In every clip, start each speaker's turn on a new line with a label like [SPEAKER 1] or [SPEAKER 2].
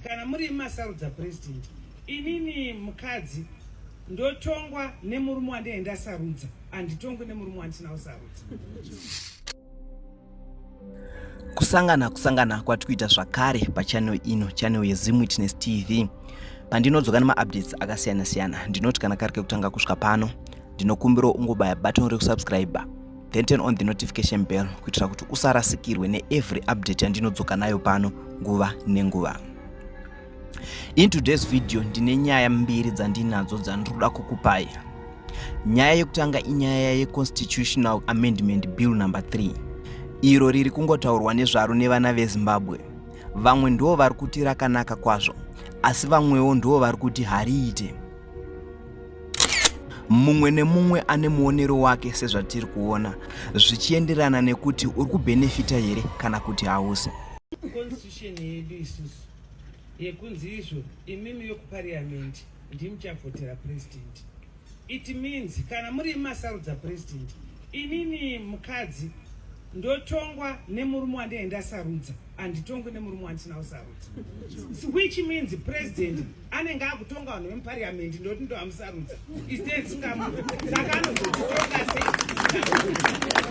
[SPEAKER 1] Kana muri masarudza president, inini mukadzi ndotongwa nemurume wandinenge ndasarudza, handitongwi nemurume wandisina kusarudza.
[SPEAKER 2] Kusangana kusangana kwati kuita zvakare pachannel ino, channel yeZim Witness TV. Pandinodzoka nemaupdates akasiyana siyana, ndinoti kana kari kekutanga kusvika pano, ndinokumbirawo ungobaya button rekusubscriber then turn on the notification bell kuitira kuti usarasikirwe neevery update yandinodzoka nayo pano nguva nenguva in today's video ndine nyaya mbiri dzandinadzo dzandinoda kukupai nyaya yekutanga inyaya yeconstitutional amendment bill number 3 iro riri kungotaurwa nezvaro nevana vezimbabwe vamwe ndivo vari kuti rakanaka kwazvo asi vamwewo ndivo vari kuti hariite mumwe nemumwe ane muonero wake sezvatiri kuona zvichienderana nekuti uri kubhenefita here kana kuti hausi constitution
[SPEAKER 1] yedu isusu yekunzi izvo imimi yokupariamendi ndimuchavhotera president it means kana muri masarudza president inini mukadzi ndotongwa nemurume wandine ndasarudza handitongwe nemurume wandisina kusarudza which means president anenge akutonga vanhu vemupariamendi ndoti ndo amusarudza istenskamu saka anozotitonga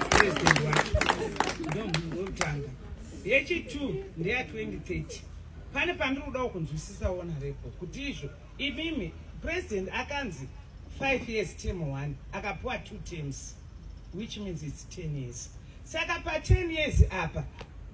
[SPEAKER 1] sepresident wake ndomunhu wekutanga yechitu ndeya 2030 pane pandiri kudawo kunzwisisa wona repo kuti izvo imimi president akanzi five years term one akapuwa two terms which means its ten years saka paten years apa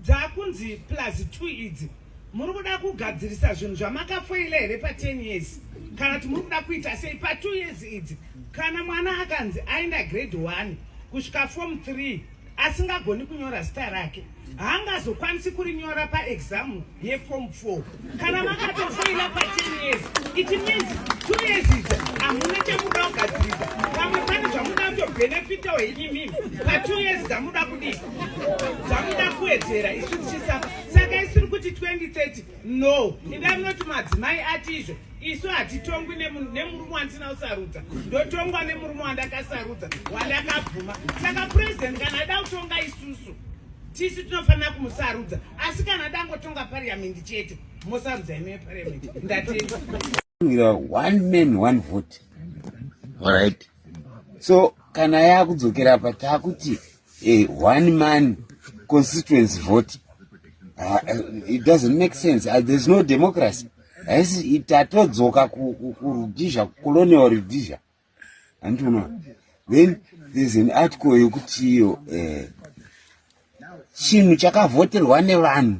[SPEAKER 1] dzakunzi plus two idzi Muri kuda kugadzirisa zvinhu zvamakafoila here pa 10 years kana kuti muri kuda kuita sei pa 2 years idzi kana mwana akanzi aenda grade 1 kusvika form 3 asingagoni kunyora zita rake haangazokwanisi kurinyora paexamu yeform four kana makatofoila paten years it means two years idzo hamuna chamuda kugadzirisa pamwe pane zvamuda kutobhenefita wenyu mimi patwo years dzamuda kudii dzamuda kuwedzera isu tichisapa saka isiri kuti 2030 no inda munoti madzimai ati izvo isu hatitongwi nemurume wandisina kusarudza ndotongwa nemurume wandakasarudza wandakabvuma saka purezidenti kana aida kutonga isusu tisu tinofanira kumusarudza asi kana dangotonga pariamendi chete mosarudza ino yepariamendi ndatenda
[SPEAKER 3] one man one vote alright so kana yakudzokera apa takuti a one man constituency vote uh, it doesn't make sense uh, there's no democracy haisi tatodzoka kurudizha colonial rudizha andiona then there's an article yekuti iyo eh, chinhu chakavhoterwa nevanhu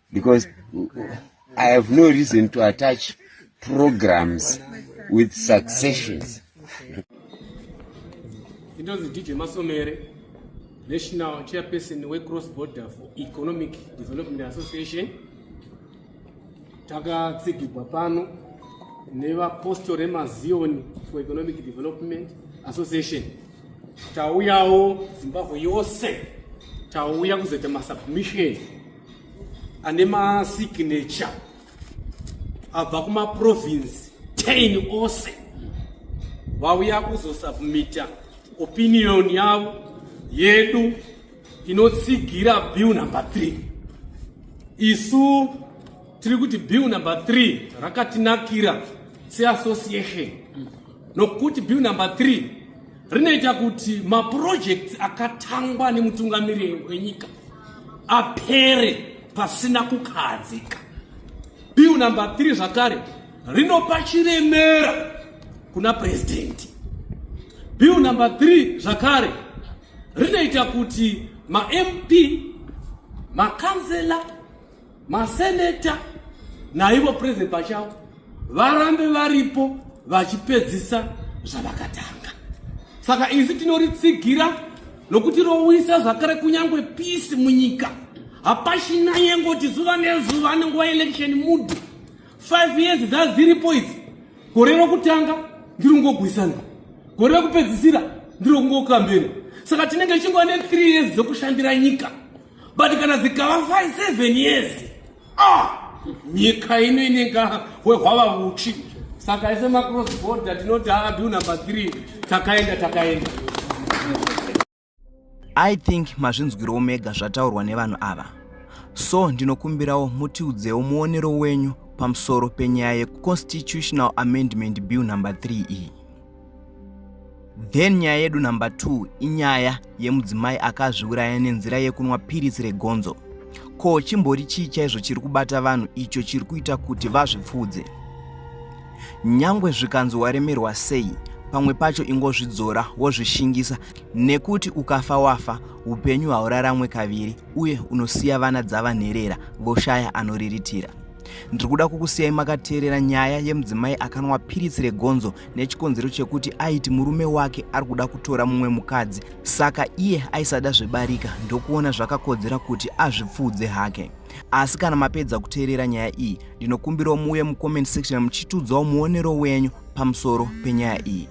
[SPEAKER 3] because i have no reason to attach programs with successions
[SPEAKER 4] intonzi dj masomere national chairperson wecross border for economic development association takatsigigwa pano nevapostori remazioni for economic development association tauyawo zimbabwe yose tauya kuzoita masubmission ane masignature abva kumaprovince 10 ose vauya kuzosubmita opinion yavo yedu inotsigira bill number 3 isu tiri kuti bill number 3 rakatinakira seassociation nokuti bill number 3 rinoita kuti mapurojekti akatangwa nemutungamiriri wenyika apere pasina kukahadzika bill number 3 zvakare rinopa chiremera kuna purezidenti bill number 3 zvakare rinoita kuti mamp makanzela Maseneta naivo president pachavo varambe varipo vachipedzisa zvavakatanga. Saka isu tinoritsigira nokuti rowisa zvakare kunyangwe peace munyika. Hapachina yengoti zuva nezuva anenguva election mood. 5 years dzaziripo idzi. Gore rokutanga ndiri kungogwisana. Gore rokupedzisira ndiri kungokambena. Saka tinenge chingwa ne 3 years dzokushandira nyika. but kana zikava 5 7 years ah nyika ino inenga wehwava vuchi saka ise macross border tinoti adu number 3 takaenda takaenda
[SPEAKER 2] i think mazvinzwirawo mega zvataurwa nevanhu ava so ndinokumbirawo mutiudzewo muonero wenyu pamusoro penyaya yeconstitutional amendment bill number 3 iyi then nyaya yedu number 2 inyaya yemudzimai akazviuraya nenzira yekunwa piritsi regonzo ko chimbori chii chaizvo chiri kubata vanhu icho chiri kuita kuti vazvipfuudze nyangwe zvikanzi waremerwa sei pamwe pacho ingozvidzora wozvishingisa nekuti ukafa wafa upenyu hauraramwe kaviri uye unosiya vana dzavanherera voshaya anoriritira ndiri kuda kukusiyai makateerera nyaya yemudzimai akanwa piritsi regonzo nechikonzero chekuti aiti murume wake ari kuda kutora mumwe mukadzi saka iye aisada zvebarika ndokuona zvakakodzera kuti azvipfuudze hake asi kana mapedza kuteerera nyaya iyi ndinokumbirawo muuye mucomment section muchitudzawo muonero wenyu pamusoro penyaya iyi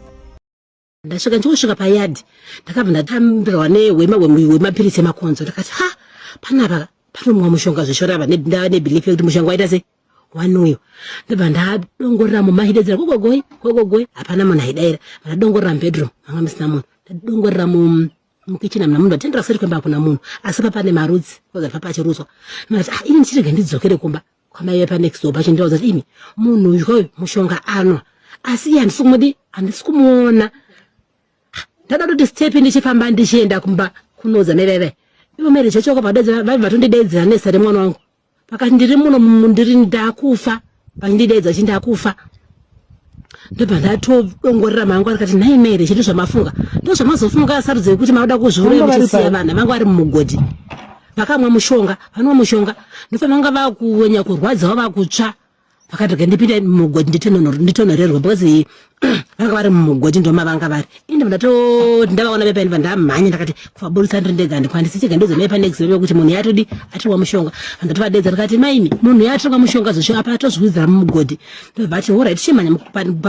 [SPEAKER 2] ndasvika
[SPEAKER 5] ndichingosvika payadhi ndakabva ndatambirwa nehwema hwemapiritsi emakonzo ndakati ha panapa panomwa mushonga zveshorava ndava nebelief yekuti mushonga waita sei wani uyo ndobva ndadongorera mumba achidedzera gogogoi gogogoi hapana munhu aidaira ndadongorera mubedroom manga musina munhu ndadongorera mu mukichina mna munhu vatendera kusati kwemba hakuna munhu asi papane marudzi kozati papachirutswa ndati ah ini ndichirega ndidzokere kumba kwamai vepa next door vachindiudza kuti imi munhu uyu kwayo mushonga anwa asi iye handisi kumudi handisi kumuona ndada kuti stepi ndichifamba ndichienda kumba kunoudza mai vaive ivo mere chachoka vadedza vaive vatondidedzera nesa remwana wangu pakati ndiri muno ndiri ndakufa vachindideedza chindakufa ndobva ndatongorera mangu ari kati nhai mere chete zvamafunga ndo zvamazofunga asarudza yekuti mauda kuzviuraya muchisiya vana vangu vari mumugodhi vakamwa mushonga vanwa mushonga ndobva vanga vakuwenya kurwadzawo vakutsva vakatoga ndipinda mumugodhi nditonhorerwa because vanga vari mumugodhi ndomavanga vari inde ndatoti ndavaona vepainiva ndamhanya ndakati kuvaburitsa ndiri ndega handikwanisi chega ndozomai panext veve kuti munhu yatodi atirwa mushonga handatovadedza ndikati maimi munhu yatirwa mushonga zvosho apa atozviwidzira mumugodhi ndobva ati horit chimhanya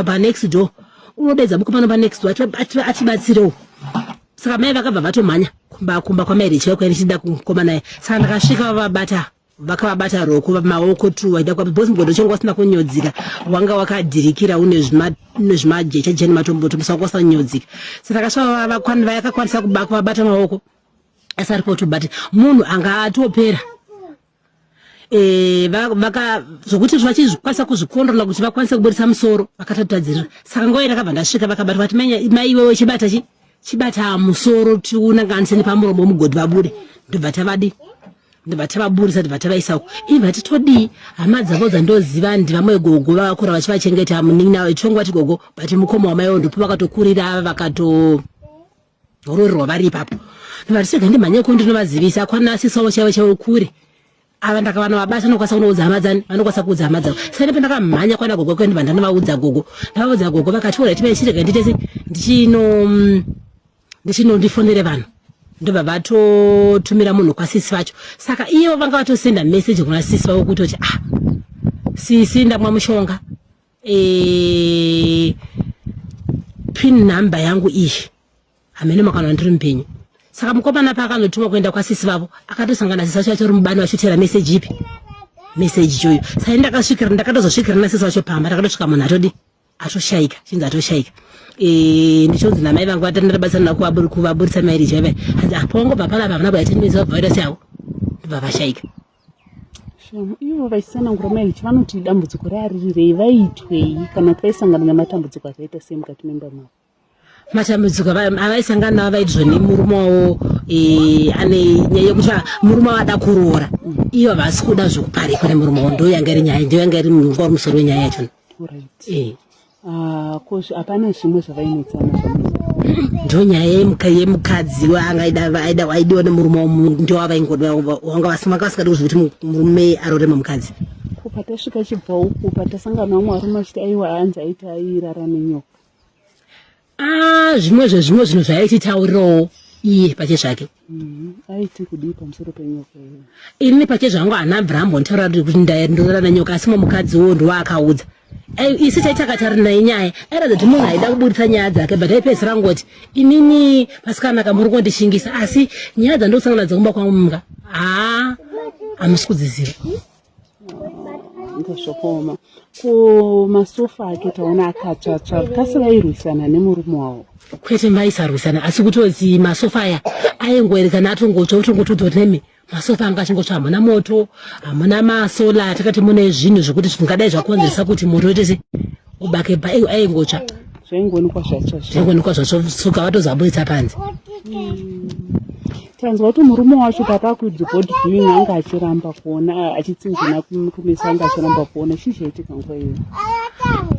[SPEAKER 5] panext door unodedza buko pano panext door atibatsirewo saka mai vakabva vatomhanya kumba kumba kwamairi chaikwai ndichida kukoma naye saka ndakasvika vavabata vakavabata roko maoko tu vaida kuva because mugodo chongo wasina kunyodzika wanga wakadhirikira une zvimajecha jeni matomboto musa wanga wasanyodzika saka kasvava vakakwanisa kuba kuvabata maoko asi ari poto but munhu anga atopera e, zvokuti vachizvikwanisa kuzvikondrola kuti vakwanise kuburitsa musoro vakatatadzirira saka nguva irakabva ndasvika vakabatwa vati maiwewe chibata chi chibata musoro tiunanganise nepamuromo mugodhi vabude ndobva tavadii ndobva tavaburisa ndobva tavaisa uko ivi vati todii hama dzavo dzandoziva ndivamwe gogo vakakura vachivachengeta munin'ina ichongo vati gogo but mukoma wamaiwo ndipo vakatokurira ava vakatoroorerwa vari ipapo ndobva tisega ndimhanyeko ndinovazivisa kwana sisawo chaivo chaivo kure ava ndakavana vabasa anokwanisa kunoudza hama dzani vanokwanisa kuudza hama dzavo saka ndipo ndakamhanya kwana gogo kwendi vandanovaudza gogo ndavaudza gogo vakati ora tipai chirega nditese ndichino mm, ndichino ndifonere vanhu ndobva vatotumira munhu kwasisi vacho saka iyevo vanga vatosenda meseji kuna sisi vavo kutoti ah sisi ndamwa mushonga e, pin number yangu iyi hamene makana ndiri mpenyu saka mukomana paakanotumwa kuenda kwasisi vavo akatosangana sisi vacho vacho ri mubani vachotera meseji ipi meseji choyo sai ndakasvikira ndakatozosvikira nasisi vacho pamba ndakatosvika munhu atodi atoshaika chinzi atoshaika e, ndichonzi namai vangu vatandabatsana kuvaburitsa mairiji vaiva hanzi apongobva ah, panapa havana kuyatendezevavirus yavo ndobva vashaika
[SPEAKER 6] ivo vaisanangura mahechi vanoti dambudziko rearirirei vaitwei kana kuti vaisangana nematambudziko akaita sei mukati memba mavo matambudziko
[SPEAKER 5] avaisangana navo vaiti zvoni murume wavo e, ane nyaya yekuti murume wavo ada kuroora ivo havasi kuda zvekuparikwa nemurume wavo ndoyanga iri nyaya ndoyanga iri nguva musoro wenyaya yachona
[SPEAKER 6] Ah,
[SPEAKER 5] hapana
[SPEAKER 6] zvimwe
[SPEAKER 5] zvavainetsana
[SPEAKER 6] ndo
[SPEAKER 5] nyaya yemukadzi aidiwa nemurume wamunhu ndo wavaingoda wanga vasikadi kuziva kuti murume arorema mukadzi ko patasvika
[SPEAKER 6] chibva uku patasangana vamwe varume achiti aiwa hanzi aiti airara nenyoka Ah,
[SPEAKER 5] zvimwe zvezvimwe zvinhu zvaititaurirawo iye pache zvake mm, aiti
[SPEAKER 6] kudii pamusoro penyoka iyo ini pache zvangu
[SPEAKER 5] hana abraham nditaura kuti ndorara nenyoka asi mamukadzi wo ndowaakaudza isi taitakatari naye nyaya airatidza kuti munhu aida kuburitsa nyaya dzake but aipedzisira ngoti inini pasikana ka muri kundishingisa asi nyaya dzandokusangana dzekumba kwangu mga haa hamusi kudziziva
[SPEAKER 6] ndozvakaoma ko masofa ake taona akatsvatsva kasi vairwisana nemurume wavo kwete vaisarwisana
[SPEAKER 5] asi kutozi masofa aya aingoerekana atongotsva otongotodzwa kuti nemi masofa anga achingotsva hamuna moto hamuna masola atakati mune zvinhu zvekuti zvingadai zvakonzeresa kuti moto oite se ubake ba aingotsva zvaingoonekwa
[SPEAKER 6] zvatsva zvaingoonekwa zvatsva
[SPEAKER 5] suka vatozaburitsa panze hmm.
[SPEAKER 6] tanzwa kuti murume wacho patakuidzi board viewing anga achiramba kuona achitsinzina kumisa anga achiramba kuona chii chaitika nguva iyo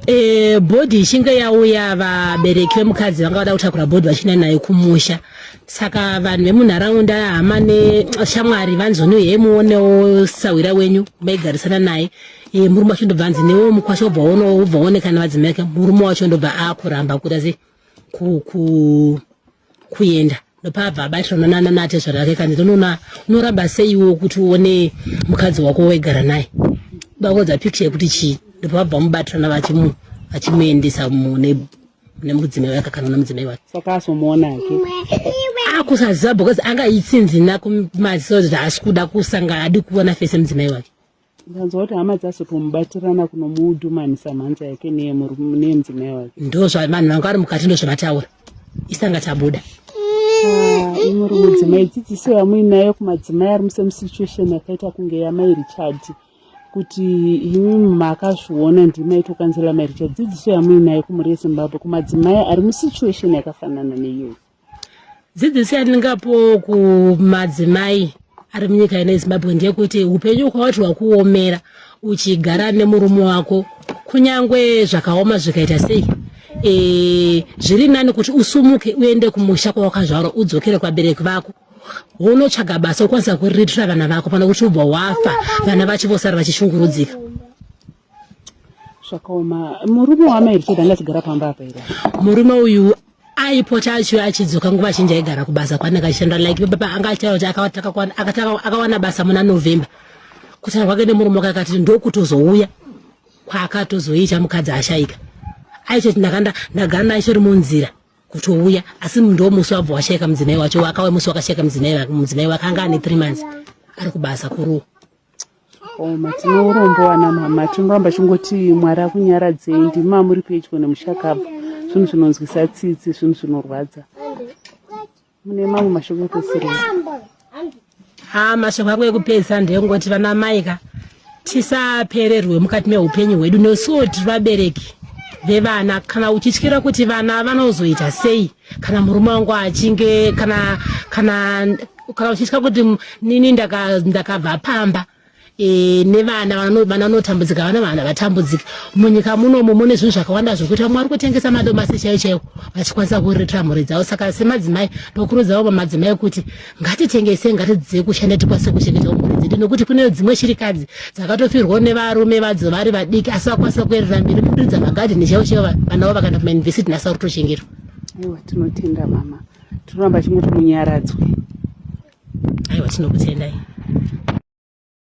[SPEAKER 6] e, bhodhi ichinge
[SPEAKER 5] yauya vabereki vemukadzi vanga vada kutakura bhodhi vachina nayo kumusha saka vanhu vemunharaunda hama neshamwari vanzoni uye muonewo sahwira wenyu maigarisana naye e, murume wacho ndobva anzi newo mukwasha obva oonekana vadzimai murume wacho ndobva akuramba kuti asi ku, ku, kuenda ndopabva abatirana nana natezvara ake kanzi tonoona unoramba seiwo kuti uone mukadzi wako waigara naye bakodza picture yekuti chii ndopabva mubatirana vachimu vachimuendesa mune nemudzimai wake kana una mudzimai wake saka asomuona hake
[SPEAKER 6] akusaziva
[SPEAKER 5] because anga itsinzina kumaziso kuti haasi kuda kusanga adi kuona fese mudzimai wake ndanzwa kuti hama
[SPEAKER 6] dzazotomubatirana kunomudhumanisa mhanza yake neyemudzimai wake ndo zvavanhu vanga vari
[SPEAKER 5] mukati ndo zvavataura isanga tabuda ah,
[SPEAKER 6] imuri mudzimai dzidziso yamuinayo kumadzimai ari musemusituation yakaita kunge yamai richard kuti imi makazviona ndimaitokanzela mai richard dzidziso yamuinayo kumuri yezimbabwe kumadzimai ari musituation yakafanana neiyoyi dzidziso
[SPEAKER 5] yandingapowo kumadzimai ari munyika ino yezimbabwe ndeyekuti upenyu ukawati wakuomera uchigara nemurume wako kunyange zvakaoma zvikaita sei e, zviri nani kuti usumuke uende kumusha kwawakazvarwa udzokere kwabereki vako unotsvaga basa ukwanisa kuriritira vana vako pana kuti ubva wafa vana vachi vosara vachishungurudzika
[SPEAKER 6] zvakaoma murume waamai richard anga achigara pamba apa here murume uyu
[SPEAKER 5] aipota achiyo achidzoka nguva zhinji aigara kubasa kwaanenge achishanda like baba anga achitaura kuti akawana basa muna november kutaura kwake nemurume wake akati ndokutozouya kwaakatozoita mukadzi ashaika aitoti ndakanda ndagara naye chori munzira kutouya asi ndo musi wabva washaika mudzimai wacho wakawe musi wakashaika mudzimai wake anga ane three months ari kubasa kuruwa Oma tine
[SPEAKER 6] urombo wana mama tinoramba chingoti mwari akunyaradzei ndimi mamuri pedyo nemushakabvu zvinhu zvinonzwisa tsitsi zvinhu zvinorwadza mune mamwe mashoko ekusiria ha
[SPEAKER 5] mashoko ako ekupedzisa ndeyekungoti vana mai ka tisapererwe mukati meupenyu hwedu nesuwo tiri vabereki vevana kana uchityira kuti vana vanozoita sei kana murume wangu achinge kana kana kana uchiitya kuti nini ndakabva pamba e, nevana vana vanotambudzika vana vana vatambudzika munyika munomu mune zvinhu zvakawanda zvokuita vamwe vari kutengesa madomasi chaiwo chaiwo vachikwanisa kuriritira mhuri dzavo saka semadzimai ndokurudziravo vamadzimai kuti ngatitengesei ngatidzidzei kushanda tikwanise kuchengeta mhuri dzedu nokuti kune dzimwe shirikadzi dzakatofirwawo nevarume vadzo vari vadiki asi vakwanisa kuerera mberi kuridza magadheni chaivo chaivo vana vavo vakaenda kumayunivhesiti nhasi vari kutochengetwa aiwa tinotenda
[SPEAKER 6] mama tinoramba chingoti munyaradzwe aiwa
[SPEAKER 5] tinokutendai